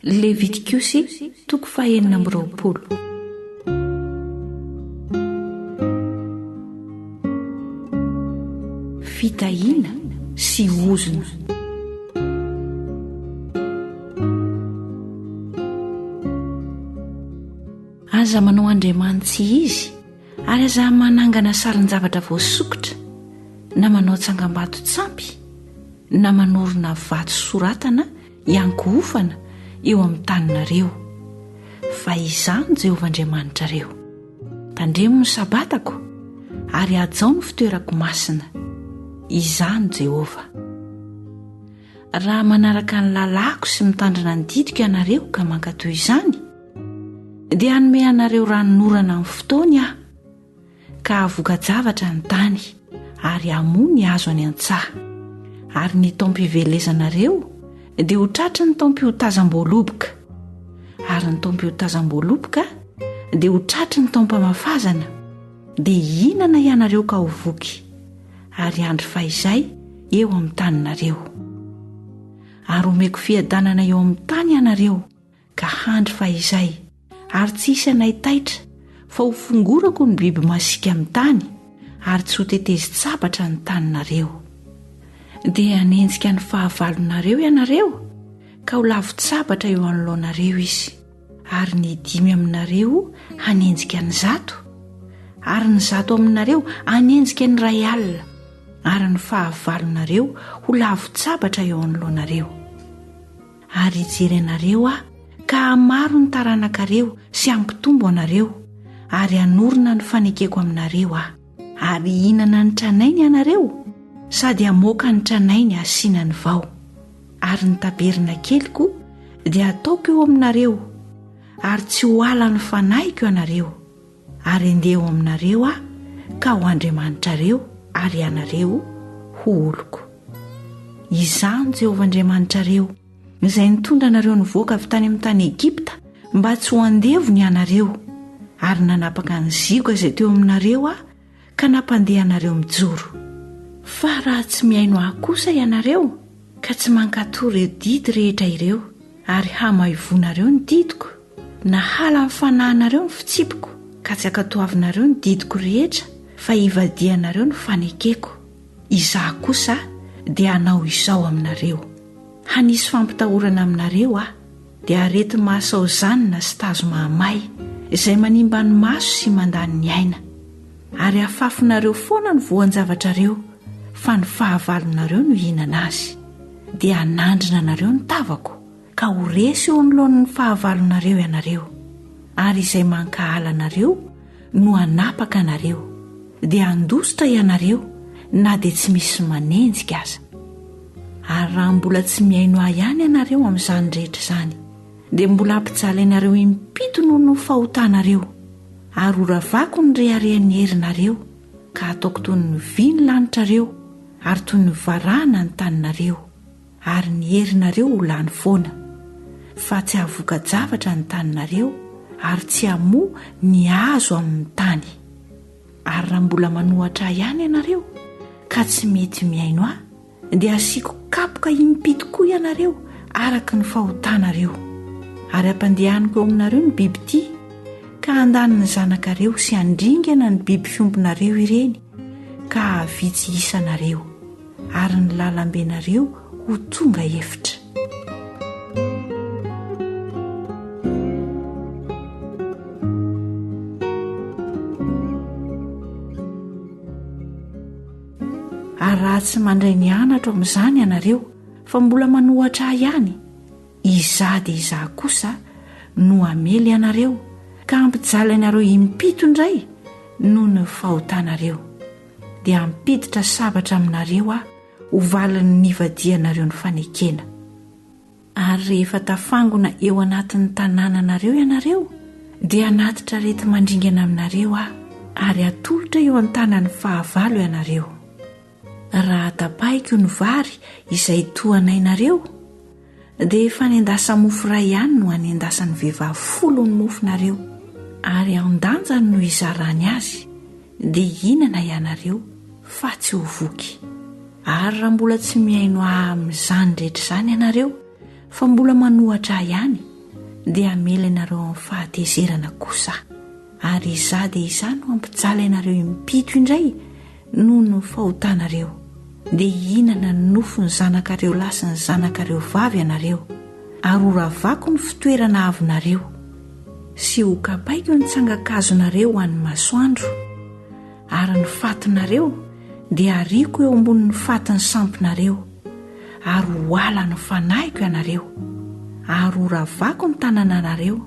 Levitikosy toko fahenina amby roapolo. Fitahiana sy ozona. Aza manao andriamanitsy izy ary aza manangana sarin-javatra voasokitra na manao tsangambato tsampy na manorina vato soratana hiango hofana eo amin'ny taninareo, fa Izaho no Jehovah Andriamanitrareo. Tandremo ny Sabatako, ary hajao ny fitoerako masina. Izaho no Jehovah. Raha manaraka ny lalàko sy mitandrina ny didiko ianareo ka mankatò izany, dia hanome anareo ranonorana amin'ny fotoany Aho. ka havoka-javatra ny tany ary hamoa ny hazo any an-tsaha. Ary ny taom-pivelezanareo dia ho tratry ny taom-piotazam-boaloboka. Ary ny taom-piotazam-boaloboka dia ho tratry ny taom-pamafazana, dia hihinana ianareo ka ho voky, ary handry fahizay eo amin'ny taninareo. Ary homeko fiadanana eo amin'ny tany ianareo ka handry fahizay, ary tsy hisy anay taitra, fa ho fongorako ny biby masiaka amin'ny tany, ary tsy ho tetezi-tsabatra ny taninareo. Dia hanenjika ny fahavalonareo ianareo, ka ho lavon-tsabatra eo anoloanareo izy, ary ny dimy aminareo hanenjika ny zato, ary ny zato aminareo hanenjika ny iray alina, ary ny fahavalonareo ho lavon-tsabatra eo anoloanareo. Ary hijery anareo Aho ka hamaro ny taranakareo sy hampitombo anareo, ary hanorina ny fanekeko aminareo Aho. Ary hihinana ny tranainy ianareo, sady hamoaka ny tranainy hasiana ny vao. Ary ny tabernakeliko dia hataoko eo aminareo, ary tsy ho halan'ny fanahiko ianareo. Ary andeha ho aminareo aho ka ho Andriamanitrareo ary ianareo ho oloko. Izaho no Jehovah Andriamanitrareo, izay nitondra anareo nivoaka avy tany amin'ny tany Egypta mba tsy ho andevony ianareo, ary nanapaka ny zioga izay teo aminareo aho ka nampandeha anareo mijoro. Fa raha tsy mihaino ahy kosa ianareo ka tsy mankatò ireo didy rehetra ireo ary hamaivonareo ny didiko, na hala ny fanahinareo ny fitsipiko ka tsy ankatoavinareo ny didiko rehetra fa hivadihanareo ny fanekeko, Izaho kosa dia hanao izao aminareo, Hanisy fampitahorana aminareo Aho. dia areti-maso aozanina sy tazo mahamay izay manimba ny maso sy mandany ny aina, ary afafinareo foana ny voan-javatrareo, fa ny fahavalonareo no hihinana azy. Dia hanandrina anareo ny tavako, ka ho resy eo anoloan'ny fahavalonareo ianareo, ary izay mankahala anareo no hanapaka anareo, dia handositra ianareo na dia tsy misy manenjika aza. Ary raha mbola tsy mihaino ahy ihany ianareo amin'izany rehetra izany, dia mbola hampijaly anareo impito noho ny fahotanareo, ary horavako ny reharehan'ny herinareo, ka hataoko toy ny vy ny lanitrareo, ary toy ny varahana ny taninareo. ary ny herinareo ho lany foana, fa tsy hahavoka-javatra ny taninareo ary tsy hamoa ny hazo amin'ny tany. Ary raha mbola manohatra Ahy ihany ianareo ka tsy mety mihaino Ahy, dia hasiako kapoka im-py tokoa ianareo araka ny fahotanareo. Ary hampandehaniko eo aminareo ny bibidia, ka handany ny zanakareo sy handringana ny biby fiompinareo ireny, ka hahavitsy isanareo. ary ny lalambenareo ho tonga efitra. Ary raha tsy mandray ny anatro amin'izany ianareo fa mbola manohatra ahy ihany, izaho dia izaho kosa no hamely anareo ka hampijaly anareo impito indray noho ny fahotanareo. dia hampiditra sabatra aminareo aho ho valin'ny nivadihanareo ny fanekena. Ary rehefa tafangona eo anatin'ny tanànanareo ianareo, dia hanatitra areti-mandringana aminareo aho, ary hatolotra eo an-tanan'ny fahavalo ianareo. Raha tapahiko ny vary izay tohanainareo, Dia fanendasa-mofo iray ihany no anendasan'ny vehivavy folo ny mofonareo, ary an-danjany no hizarany azy, dia hihinana ianareo, fa tsy ho voky. Ary raha mbola tsy mihaino Ahy amin'izany rehetra izany ianareo, fa mbola manohatra Ahy ihany, dia hamela ianareo amin'ny fahatezerana kosa Aho. Ary Izaho dia Izaho no hampijaly anareo impito indray, Noho ny fahotanareo, dia hihinana ny nofon'ny zanakareo lahy sy ny zanakareo vavy ianareo, ary horavako ny fitoerana avinareo, sy hokapaiko ny tsangan-kazonareo ho an'ny masoandro, ary ny fatinareo dia hariako eo ambonin'ny fatin'ny sampinareo, ary ho ala ny fanahiko ianareo, ary horavako ny tanananareo,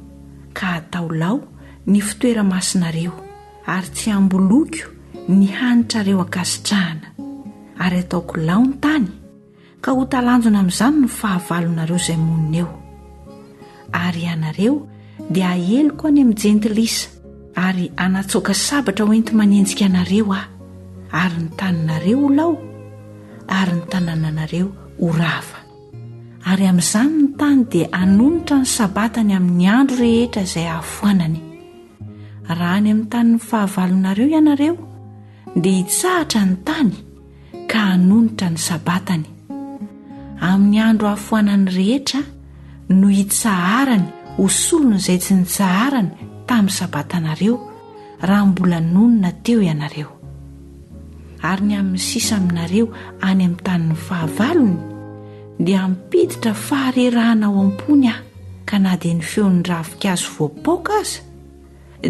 ka hatao lao ny fitoeramasinareo, ary tsy hamboloiko ny hanitrareo ankasitrahana, ary hataoko lao ny tany, ka ho talanjona amin'izany ny fahavalonareo izay monina eo. Ary ianareo dia haeliko any amin'ny jentilisa, ary hanatsoaka sabatra hoenti-manenjika anareo aho, ary ny taninareo ho lao, ary ny tanànanareo ho rava. Ary amin'izany ny tany dia hanonitra ny Sabatany amin'ny andro rehetra izay hahafoanany. Raha any amin'ny tanin'ny fahavalonareo ianareo, dia hitsahatra ny tany ka hanonitra ny sabatany. Amin'ny andro hafoanany rehetra no hitsaharany ho solon'izay tsy nitsaharany tamin'ny sabatanareo, raha mbola nonina teo ianareo. ary ny amin'ny sisa aminareo any amin'ny tanin'ny fahavalony, dia hampiditra faharerahana ao am-pony aho, ka na dia ny feon'ny ravinkazo voapaoka aza,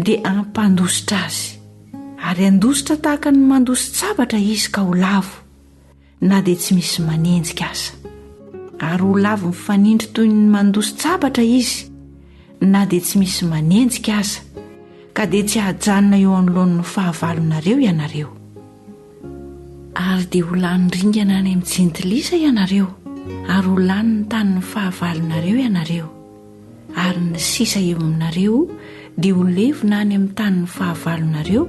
dia hampandositra azy, ary handositra tahaka ny mandositra-javatra izy ka ho lavo. na dia tsy misy manenjika aza ary ho lavo mifanindry toy ny mandosy tsabatra izy na dia tsy misy manenjika aza ka dia tsy hahajanona eo anoloan'ny fahavalonareo ianareo ary dia ho lany ringana any amin'ny jentilisa ianareo ary ho lany ny tanin'ny fahavalonareo ianareo ary ny sisa eo aminareo dia ho levona any amin'ny tanin'ny fahavalonareo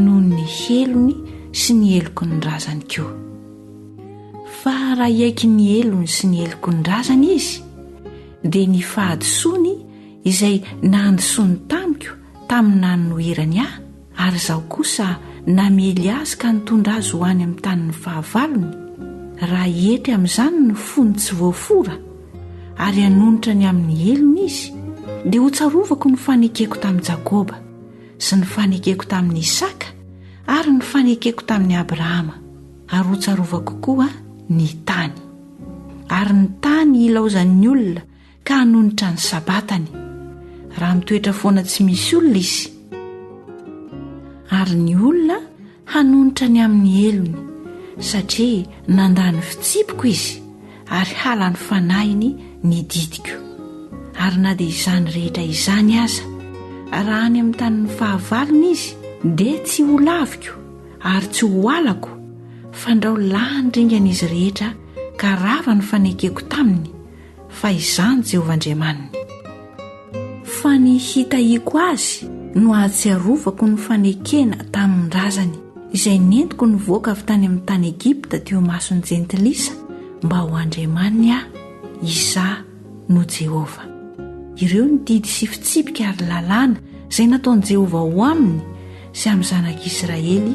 noho ny helony sy ny heloky ny razany koa. Fa raha hiaiky ny helony sy ny heloky ny razany izy, dia ny fahadisoany izay nahandisoany tamiko tamin'ny nanoherany ahy, Ary izaho kosa namely azy ka nitondra azy ho any amin'ny tanin'ny fahavalony, raha hietry amin'izany ny fony tsy voafora, ary hanonitra ny amin'ny helony izy, dia hotsarovako ny fanekeko tamin'i Jakoba, sy ny fanekeko tamin'i Isaka, ary ny fanekeko tamin'i Abrahama, ary hotsarovako koa ny tany. Ary ny tany hilaozan'ny olona ka hanonitra ny sabatany, raha mitoetra foana tsy misy olona izy. Ary ny olona hanonitra ny amin'ny helony, satria nandà ny fitsipiko izy, ary halan'ny fanahiny ny didiko. Ary na dia izany rehetra izany aza, raha any amin'ny tanin'ny fahavalony izy, dia tsy ho laviko ary tsy ho alako, fandrao lany ringana izy rehetra ka rava ny fanekeko taminy, fa izaho ny Jehovah Andriamaniny. Fa ny hitahiako azy no hahatsiarovako ny fanekena tamin-drazany izay nentiko nivoaka avy tany amin'ny tany Egypta teo imason'ny jentilisa mba ho Andriamaniny aho. Izaho no Jehovah. Ireo ny didy sy fitsipika ary lalàna izay nataon'i Jehovah ho aminy sy amin'ny zanak'Israely